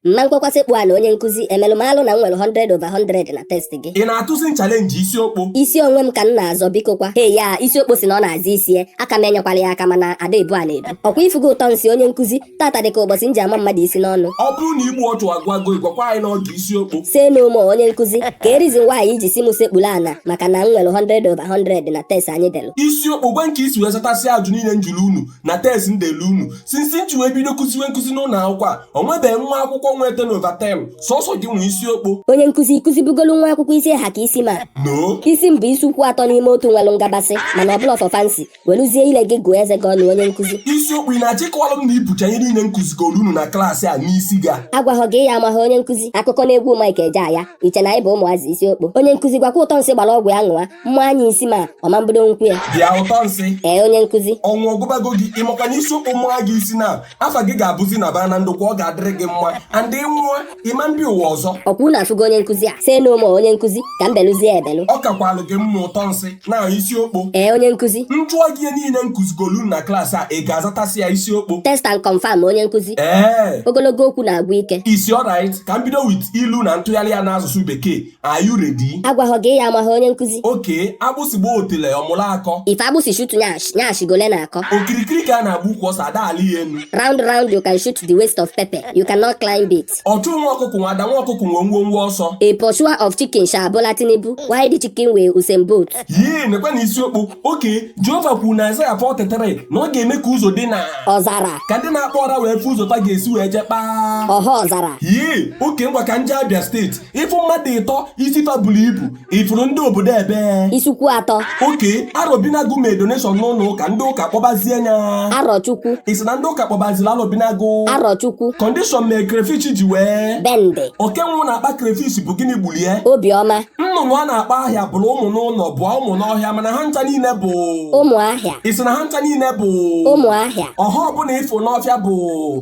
Mma nkwekwa sekpu ana onye nkụzi emelụ malụ na m nwere 100 over 100 na test gị. Ị na-atụzi m challenge isi okpo? Isi onwe m ka m na-azọ biko kwa. Hey ya, isi okpo si na ọ na-azọ isi ya, aka m enyekwala ya aka mana ada ebu a na-ebu. Ọkwa ị fụgo ụtọ nsị onye nkụzi, taata dị ka ụbọchị m ji ama mmadụ isi n'ọnụ. Ọ bụrụ na igbu ọchụ agụwago gị gwakwa anyị n'oge isi okpo. Say no more onye nkụzi, kee reason why i ji si m sekpuru ana maka na m nwere 100 over 100 na test anyị delụ. Isi okpo gwa m ka i si wee zatasịa ajụ niile m jụrụ unu na test m delu unu since m ji wee bido kụziwe nkụzi n'ụlọ akwụkwọ a o nwebeghị nwa akwụkwọ nweta 10 over 10 sọsọ gị nwee isi okpo onye nkụzi ị kụzibugolu nwa akwụkwọ isi ha ka isi m a no isi m bụ isi ukwu atọ n'ime otu nwelụ ngabasị mana ọ bụrọ for fancy weluzie ile gị gụọ eze gị ọnụ onye nkụzi isi okpo ị na-achịkọwalụ m na i bucha ihe niile m kụzigolu unu na klaasị a n'isi gị a agwahọ gị ị ya amaha onye nkụzi akụkọ na egwu Mike Ejeagha i che na anyị bụ ụmụazị isi okpo onye nkụzi gwakwa ụtọ nsị gbara ọgwụ ya ṅụwa m maa nya isi m a ọ ma mbido nkwụ ya bịa ụtọ nsị ee onye nkụzi ọnwụ ọ gụbago gị ị makwa na isi okpo maa gị isi na afa gị ga-abụzi naba na ndokwa ọ ga-adịrị gị mma and ị nwụọ ị ma mbi ụwa ọzọ ọkwa unu afụgo onye nkụzi a say no more onye nkụzi ka m belụzie ebelụ ọ kakwalụ gị mma ụtọ nsị na isi okpo ee onye nkụzi m jụọ gị ihe niile m kụzigolu na klaasị a ị ga-azatasị ya isi okpo test and confirm onye nkụzi ee ogologo okwu na-agwụ ike it's alright ka m bido with ilu na ntụgharị ya n'asụsụ bekee Are you ready? Agwahọ gị ị ya amaha onye nkụzi. Okay, agbụsị gbaa otele ọ mụrụ akọ. If agbụsị shoot nyash, nyash go learn akọ. Okirikiri ka a na-agba ukwu ose a da-alị ya enu. Round round you can shoot the waist of pepper, you cannot climb it. Ọchụ nwa ọkụkụ nwe ada nwa ọkụkụ nwe ngwo ngwo ọsọ. A pursuer of chicken shall Bola Tinubu, while the chicken will Usain Bolt? Yee, nekwanụ isi okpo. Okay, Jehova kwuru na Aịzaya 43 na ọ ga-eme ka ụzọ dị na ọzara ka ndị na-akpa ọra wee fụ ụzọ fa ga-esi wee je kpaa ọha ọzara. Yee, okay ngwa ka m je Abia steeti. ị fụ mmadụ ịtọ isi fa buru ibu ị fụrụ ndị obodo ebee isi ukwu atọ okay Arọbinagụ mee donation n'ụlọ ụka ndị ụka kpọbazie nya Arọchukwu ị sị na ndị ụka kpọbaziri Arọbinagụ Arọchukwu condition mee crayfish ji wee Bende oke nwụ na-akpọ crayfish bụ gịnị gbulie obiọma nnụnụ a na-akpọ ahịa bụọ ụmụ n'ụlọ bụọ ụmụ n'ọhịa mana ha ncha niile bụ ụmụ ahịa ị sị na ha ncha niile bụ ụmụ ahịa ọha ọbụla ị fụ n'ọfịa bụ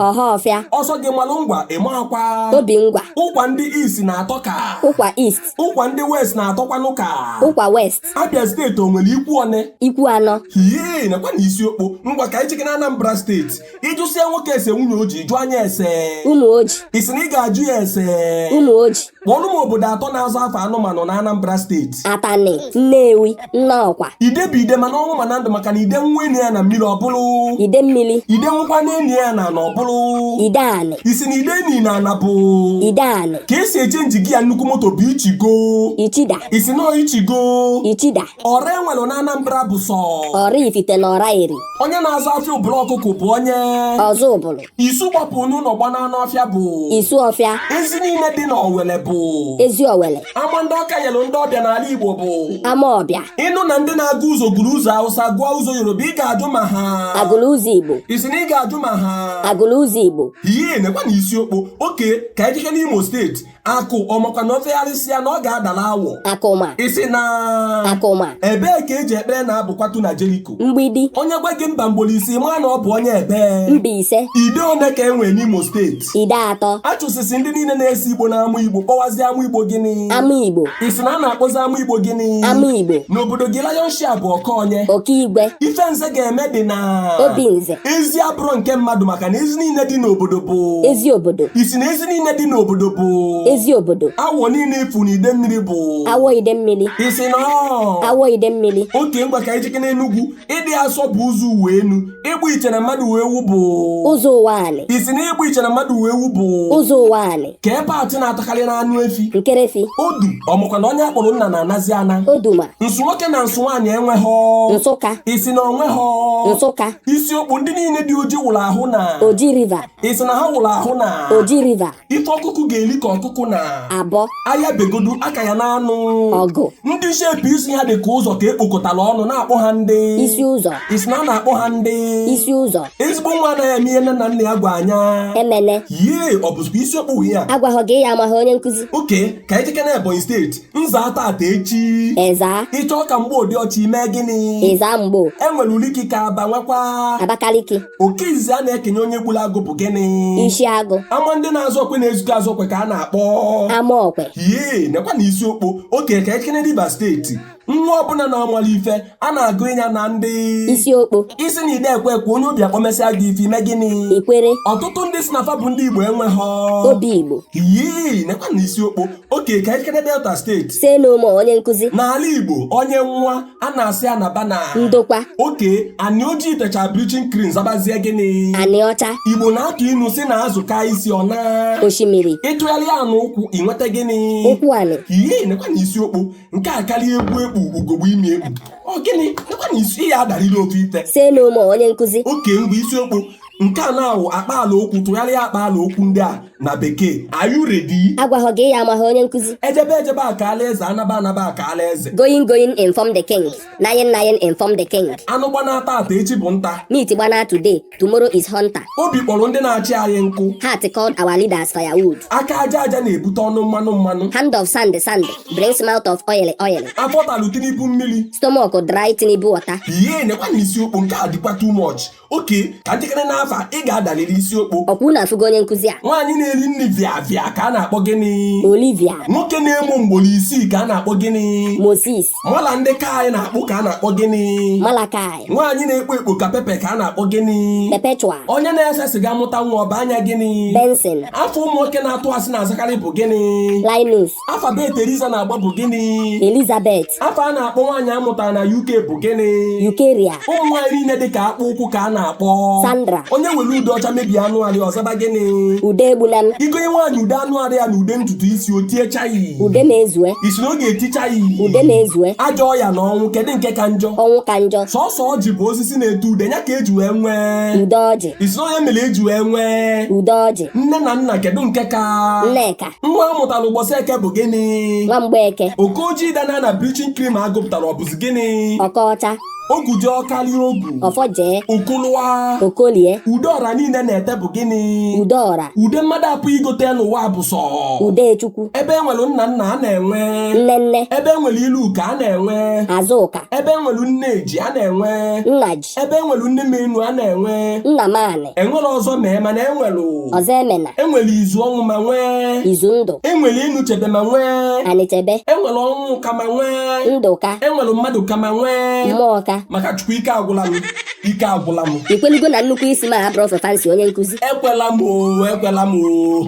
ọha ọfịa ọ sọ gị malụ ngwa ị makwa obi ngwa ụkwa ndị East na-atọ ka ụkwa East ụkwa ndị West na-atọkwanụ ka ụkwa West Abia steeti o nwere ikwu one ikwu anọ hee nekwanụ isi okpo ngwa ka anyị cheke na Anambra steeti ị jụsịa nwoke ese nwunye o ji jụọ nya ese ụmụ o ji ị sị na ị ga-ajụ ya ese ụmụ o ji kpọọrụ m obodo atọ na-aza afa anụmanụ na Anambra steeti Atani Nnewi Nnọkwa ide bụ ide ma n'ọnwụ ma na ndụ maka na ide nwụọ e nie ya na mmiri ọ bụrụ ide mmiri ide nwụkwanụ e nie ya n'ana ọ bụrụ ide anị ị sị na ide e ni na ana bụ ide anị ka e si echenji gear nnukwu moto bụ ichigo ichida ị sị na ọ ichigo ichida ọra e nwere na Anambra bụ sọ ọra ifite na ọra eri onye na-azụ afịa ụbụrụ ọkụkụ bụ onye ọzụ ụbụrụ isu gbapụ n'ụlọ gbana n'ọfịa bụ isu ọfịa ezi niile dị n'owele bụ ezi owele ama ndị ọka nyere ndị ọbịa n'ala igbo bụ ama ọbịa ị nụ na ndị na-agụ ụzọ gụrụ ụzọ hausa gụọ ụzọ yoruba ị ga-ajụ ma ha agụrụ ụzọ igbo ị sị na ị ga-ajụ ma ha agụrụ ụzọ igbo ihe nekwanụ isi okpo oke ka anyị jekene imo steeti akụ ọ makwa na o fegharịsịa na ọ ga-adala awọ akụma ị sị na akụma ebee ka eji ekpere na abụ kwatu na jeriko mgbidi onye gwa gị mba ugboro ise maa na ọ bụ onye ebee mbaise ide one ka e nwere n'imo steeti ide atọ a chụsịsịa ndị niile na-ese igbo na amụ igbo kpọwazi amụ igbo gịnị ama igbo ị sị na a na-akpọzi amụ igbo gịnị ama igbo n'obodo gị lion share bụ oke onye oke igwe ife nze ga-eme dị na obi nze ezi abụrọ nke mmadụ maka ka na ezi niile dị n'obodo bụ ezi obodo ị sị na ezi niile dị n'obodo bụ ezi obodo awọ niile ị fụ na ide mmiri bụ awọ ide mmiri ị sị na awọ ide mmiri oke ngwa ka anyị jekene enugwu ịdị asọ bụ ụzọ ụwa enu ịgba iche na mmadụ wee wu bụ ụzọ ụwa anị ị sị na ịgba iche na mmadụ wee wu bụ ụzọ ụwa anị kee part na-atakarị n'anụ efi nkerefi odu ọ makwa na onye akpọrọ nna na-anazi ana oduma nsụ nwoke na nsụ nwaanyị enweghị nsụka ị sị na o nweghị nsụka isi okpo ndị niile dị oji wụrụ ahụ na oji river ị sị na ha wụrụ ahụ na oji river ife ọkụkụ ga-eli ka ọkụkụ na-abọ aya begodu a ka ya na-anụ ọgụ ndị shape isi ha dị ka ụzọ ka ekpokọtara ọnụ na-akpọ ha ndị isi ụzọ ị sị na a na-akpọ ha ndị isi ụzọ ezigbo nwa anaghị eme ihe nne na nna ya gwara ya emene yee ọ bụzikwa isi okpo ihe a agwaghọ gị ya amaghị onye nkụzi oke ka anyị jekene ebonyi steeti m zaa tata echi ị zaa ị chọọ ka mgbo dị ọcha i mee gịnị ị zaa mgbo e nwere uliki ka aba nwekwa abakaliki oke izizi a na-ekenye onye gburu agụ bụ gịnị isi agụ ama ndị na-azụ okwe na-ezukọ azụ okwe ka a na-akpọ ama okwe yee nekwanụ isi okpo oke ka anyị jekene rivers steeti nwa ọbụla na-amarọ ife a na-agụnye ya na ndị isi okpo ị sị na ị da ekwe ekwe onye obi akpọ mesịa gị ife i mee gịnị ikwere ọtụtụ ndị sị na fa bụ ndị igbo enweghị obi igbo yii nekwanụ isi okpo oke ka anyị jekene delta steeti say no more onye nkụzi n'ala igbo onye nwụọ a na-asị ya naba na ndokwa oke anị ojii techaa bleaching cream zabazie gịnị anị ọcha igbo na-atụ inu sị na azụ kaa isi ọ naa osimiri ị tụgharịa anị ụkwụ ị nweta gịnị ụkwụ anị yii nekwanụ isi okpo nke a karịa egwu ekpu ugogbe imi ekpu ọ gịnị nekwa na isi ya adarịla ofe ite Say no more, onye nkụzi. oke ngwa isi okpo nke a na-awụ akpa ala okwu tụgharịa akpa ala okwu ndị a na bekee are you ready Agwaghọ gị ya amaghị onye nkụzi. ejebe ejebe akaala eze anaba anaba akaala eze Going going inform the king. Nayin nayin inform the king. anụ gbana tata echi bụ nta Meat gbana today. Tomorrow is hunter. Obi kpọrọ ndị na-achị anyị nkụ. Heart called our leaders firewood. Aka aja aja na-ebute ọnụ mmanụ mmanụ. Hand of sand sand brings mouth of oil oil. Afọ talụ Tinubu mmiri. Stomach dry Tinubu water. Hei nekwa na isi okpo nke a dịkwa too much. Okay ka njikere n'afa ị ga-adalịrị isi okpo. Ọkwa unu afụgo onye nkụzi a. Nwaanyị na-eri nri via via ka a na-akpọ gịnị? Olivia. Nwoke na-emo mgboro isii ka a na-akpọ gịnị? Moses. mala ndị ka anyị na-akpụ ka a na-akpọ gịnị malachi nwaanyị na-ekpo ekpo ka pepe ka a na-akpọ gịnị perpetual onye na-ese siga mụta nwa ọ baa nya gịnị benson afa ụmụ nwoke na-atụ asị na-azakarị bụ gịnị linus afa bet eliza na-agba bụ gịnị elizabeth afa a na-akpọ nwaanyị a mụtara na uk bụ gịnị eucharia ụmụ nwaanyị niile dị ka akpụ ụkwụ ka a na-akpọ Sandra onye were ude ọcha mebie anụ arị ya ọ zaba gịnị ude egbula m ị gonye nwaanyị ude anụ arị ya na ude ntutu isi o tie chai ude mezue ị sị na ọ ga-eti chai ude mezue ajọ ọya na ọnwụ kedu nke ka njọ ọnwụ ka njọ sọsọ ọjị bụ osisi na-eto ude ya ka eji wee nwee ude ọjị ị sị na onye mere eji wee nwee ude ọjị nne na nna kedu nke ka nneka nwa a mụtara ụbọchị eke bụ gịnị nwa mgbeke oko ojii danaa na bleaching cream a gụpụta nya ọ bụzi gịnị okoọcha ogu ji ọ karị ogu ọfọ jee okụlụwa okolie ude ọra niile na-ete bụ gịnị ude ọra ude mmadụ apụ igote n'ụwa bụ sọ ude chukwu ebe e nwere nna nna a na-enwe nne nne ebe e nwere iruka a na-enwe azụka ebe e nwere nne ji a na-enwe nna ji ebe e nwere nne m enu a na-enwe nnamanị enwere ọzọ mee mana enwere ọzọ emena enwere izu ọnwụ ma nwee izu ndụ enwere enu chebe ma nwee anịchebe enwere ọnwụka ma nwee ndụka enwere mmadụka ma nwee mmụọka maka chukwu ike agwụla m ike agwụla m i kwelugo na nnukwu isi m abụrọ for fancy onye nkụzi ekwela m o ekwela m o